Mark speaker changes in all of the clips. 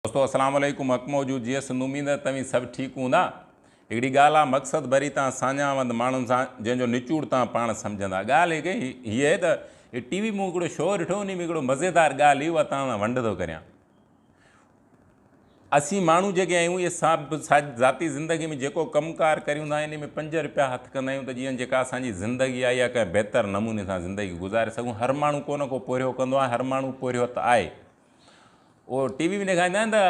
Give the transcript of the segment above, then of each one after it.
Speaker 1: دوستو السلام عليڪم حق موجود جيئن سنڌ اميد ته توهين سڀ ٺيڪ هوندا هڪڙي ڳالهه آ مقصد ڀري تان ساڃاهوند ماڻهن سان جنهن جو نچوڙ تان پاڻ سمجهندا ڳالهه هڪ هي آهي ته هي ٽي وي مون هڪڙو شو ڏٺو انهي ۾ هڪڙو مزيدار ڳالهه هي اها تان سان ونڊ ٿو ڪريان اسين ماڻهو جيڪي آهيون اهي سب ذاتي زندگي ۾ جيڪو ڪم ڪار ڪريون ٿا انهي ۾ پنج رپيا هٿ ڪندا آهيون ته جيئن جيڪا اسان جي زندگي آهي اها ڪنهن بهتر نموني سان زندگي گذاري سگهون هر ماڻهو ڪو نه ڪو پورهيو ڪندو آهي هر ماڻهو پورهيت آهي اهو ٽي وي ۾ ڏيکاريندا آهن ته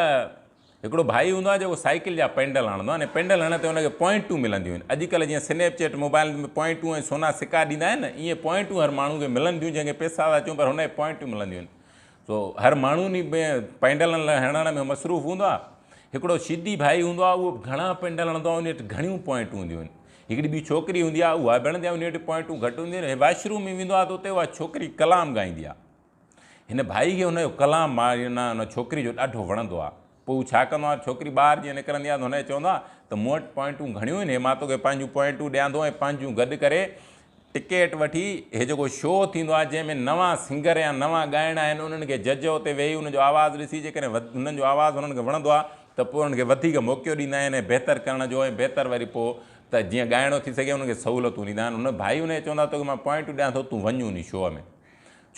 Speaker 1: هڪڙو ڀائي هوندو آهي جيڪو سائيڪل جا پينڊل هڻندو آهي ۽ پينڊل هڻڻ تي ان کي پوائنٽون ملنديون آهن اڄ ڪلهه جيئن سنيپ چيٽ موبائلن ۾ پوائنٽون ۽ سونا سڪا ڏيندا آهن نه ايئن پوائنٽون هر ماڻهو کي ملن ٿيون جنهن کي پيسا ٿا اچون پر هن کي پوائنٽون ملنديون آهن سو هر ماڻهو ان ۾ پينڊلن لاء هڻڻ ۾ مصروف هوندو آهي هڪڙو شدي ڀائي هوندو آهي اهو گهڻا پينڊل هڻندو آهي ان وٽ گهڻيون پوائنٽون هونديون آهن هڪڙي ٻي ڇوڪري هوندي آهي اها به هڻندي آهي ان وٽ پوائنٽون گهٽ هونديون آهن هي واشروم ۾ ويندو آهي ته اتي اها ڇوڪري ڪلام ڳائيندي آهي هن ڀائي کي هن جو ڪلام معنيٰ ان ڇوڪري جو ڏاڍو وڻندو آهي. پوء هو ڇا ڪندو آهي ته ڇوڪري ٻاهر جيئن نڪرندي آهي ته هن کي چوندو آهي ته مون وٽ پوائنٽون گهڻيون آهن هي مان توکي پنهنجون پوائنٽون ڏيان ٿو ۽ پنهنجون گڏ ڪري ٽڪيٽ وٺي هي جيڪو شو ٿيندو آهي جنهن ۾ نوان سنگر يا نوان ڳائڻ آهن انهن کي جج اتي ويهي انهن جو آواز ڏسي جيڪڏهن انهن جو آواز انهن کي وڻندو آهي ته پوء انهن کي وڌيڪ موقعو ڏيندا آهن ۽ بهتر ڪرڻ جو ۽ بهتر وري پوء ته جيئن ڳائڻو ٿي سگهي انهن کي سهولتون ڏيندا آهن هن ڀائي هن کي چوندو آهي توکي مان پوائنٽون ڏيان ٿو تون وڃ انهي شو ۾.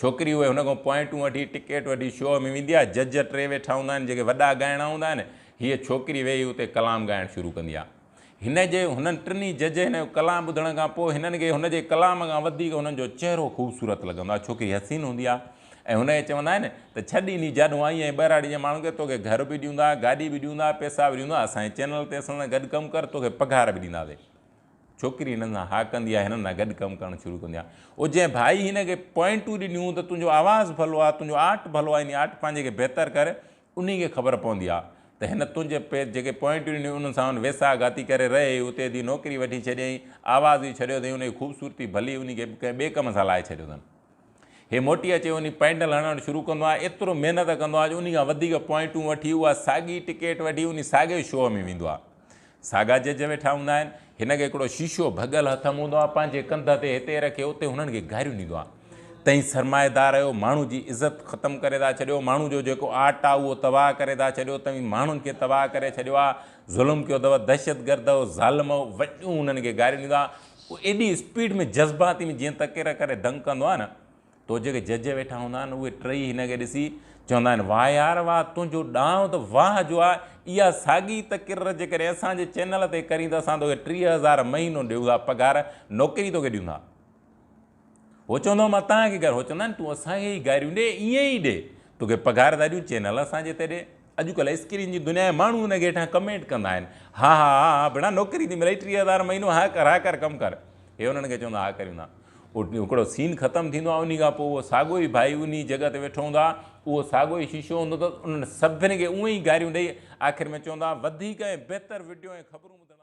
Speaker 1: ڇوڪري اهي هن کان پوائنٽون وٺي ٽڪيٽ وٺي شو ۾ ويندي آهي جج ٽي ويٺا هوندا آهن جيڪي وڏا ڳائڻا هوندا آهن هيء ڇوڪري ويهي اتي ڪلام ڳائڻ شروع ڪندي آهي هن جي هنن ٽنهي جج هن جو ڪلام ٻڌڻ کان پوء هنن کي هن جي ڪلام کان وڌيڪ هنن جو چهرو خوبصورت لڳندو آهي ڇوڪري حسين هوندي آهي ۽ هن کي چوندا آهن ته ڇڏ انهي جاڏو آئين ۽ ٻهراڙي جي ماڻهن کي توکي گهر به ڏيوندا گاڏي به ڏيوندا پئسا به ڏيوندا اسان جي چينل تي اسان سان گڏ ڪم ڪر توکي پگهار به ڏينداسين ڇوڪري هنن سان ها ڪندي آهي، هنن سان گڏ ڪم ڪرڻ شروع ڪندي آهي. او جنهن ڀائي هن کي پوائنٽون ڏنيون ته تنهنجو آواز ڀلو آهي، تنهنجو آرٽ ڀلو آهي، يعني آرٽ پنهنجي کي بهتر ڪر، انهي کي خبر پوندي آهي ته هن تنهنجي پي جيڪي پوائنٽون ڏنيون انهن سان هن ويساهه گهاتي ڪري رهي ئي اتي ادي نوڪري وٺي ڇڏيائين، آواز ئي ڇڏيو اٿئي، انهي جي خوبصورتي ڀلي انهي کي ڪنهن ٻئي ڪم سان لائي ڇڏيو اٿن. هي موٽي اچي وڃي پينڊل هڻڻ شروع ڪندو آهي ايترو محنت ڪندو آهي جو انهي کان وڌيڪ پوائنٽون وٺي اها ساڳي ٽڪيٽ وٺي انهي ساڳي شو ۾ ويندو آهي ساڳا جج ويٺا هوندا آهن هن کي هڪڙو شيشو ڀڳل هٿ م هوندو آهي پنهنجي ڪنڌ تي هتي رکي اتي هنن کي گاريون ڏيندو آهي تئين سرمائيدار اهو ماڻهو جي عزت ختم ڪري ٿا ڇڏيو ماڻهو جو جيڪو آرٽ آهي اهو تباهه ڪري ٿا ڇڏيو توهين ماڻهن کي تباهه ڪري ڇڏيو آهي ظلم ڪيو اٿو دهشت گرد اهو ظالم اهو وڏيون هنن کي گاريون ڏيندو آهي هو ايڏي اسپيڊ ۾ جذباتي ۾ جيئن تڪير ڪري دنگ ڪندو آهي نه تو جيڪي جج ويٺا هوندا آهن اهي ٽئي هن کي ڏسي چوندا آهن واهه يار واهه تنهنجو ڏانء ته واهه جو آهي اها ساڳي تڪرر جيڪڏهن اسان جي چينل تي ڪرين ته اسان توکي ٽيهه هزار مهينو ڏيون ٿا پگهار نوڪري توکي ڏيون ٿا. هو چوندو هو مان توهان کي گهر هو چوندا آهن تون اسان کي ئي گاريون ڏي ائين ئي ڏي توکي پگهار ڌاريون چينل اسان جي تي ڏي اڄڪلهه اسڪرين جي دنيا ۾ ماڻهو ان کي هيٺان ڪمينٽ ڪندا آهن ها ها ها ها ڀيڻا نوڪري ٿي ملئي ٽيهه هزار مهينو ها ڪر ها ڪر ڪم ڪر هي انهن کي چوندا ها ڪريون ٿا هڪڙو سين ختم ٿيندو آهي انهي کان پوء اهو ساڳو ئي ڀائي انهي جڳهه تي ويٺو هوندو آهي اهو ساڳو ئي شيشو هوندو اٿس انهن سڀني کي اونهي ئي گاريون ڏئي آخر ۾ چوندا وڌيڪ ۽ بهتر وڊيو ۽ خبرون ٻڌڻ لاء